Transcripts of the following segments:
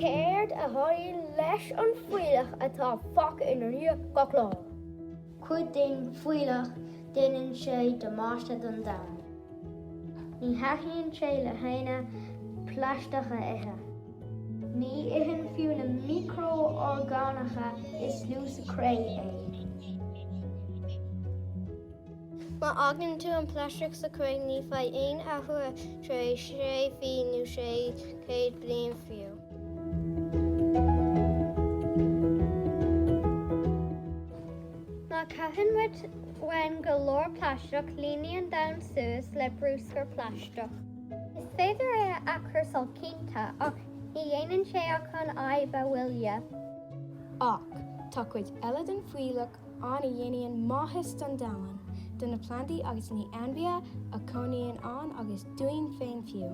Céard a tharlaíonn leis an bhfuílleach atá fágtha inár ndiaidh gach lá? Cuid den fuílleach, déanann sé damáiste don domhan. Ní thaitníonn sé le héinne plaisteach a ithe. Ní itheann fiú na miocrorgánacha is lú sa chré é. Má fhágann tú an plaisteach sa chré ní bheidh aon athrú tar éis sé mhí nó sé chéad bliain fiú. Má chaitheann muid uainn go leor plaisteach líonann an domhan suas le brúscar plaisteach. Is féidir é a athchúrsáil cinnte ach ní dhéanann sé ach an fhadhb a mhoilliú. Ach tá cuid eile den fuílleach ann a dhéanann maitheas don domhan, do na plandaí agus na hainmhithe a chónaíonn ann agus dúinn féin fiú.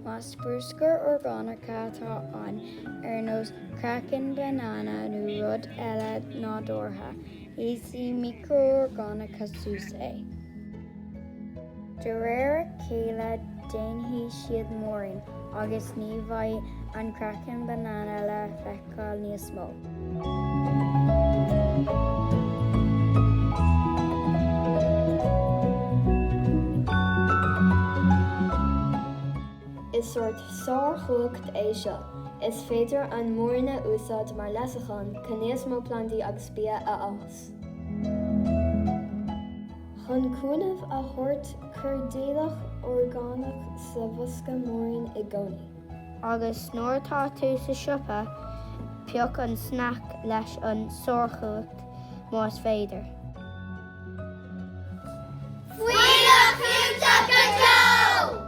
Más bruscar orgánach atá ann, ar nós craiceann banana nó rud eile nádúrtha, íosfaidh micro-orgánacha suas é. De réir a chéile déanfaidh siad múirín agus ní bheidh an craiceann banana le feiceáil. feiceáil níos mó. Is sórt sárchumhacht é seo, is féidir an múirín a úsáid mar leasachán chun níos mó plandaí agus bia a fhás. Chun cúnamh a thabhairt, cuir d'fhuílleach orgánach sa bhosca múirín i gcónaí. Agus nuair atá tú sa siopa, pioc an snac leis an sárchumhacht más féidir. Fuinneamh clúiteach go deo!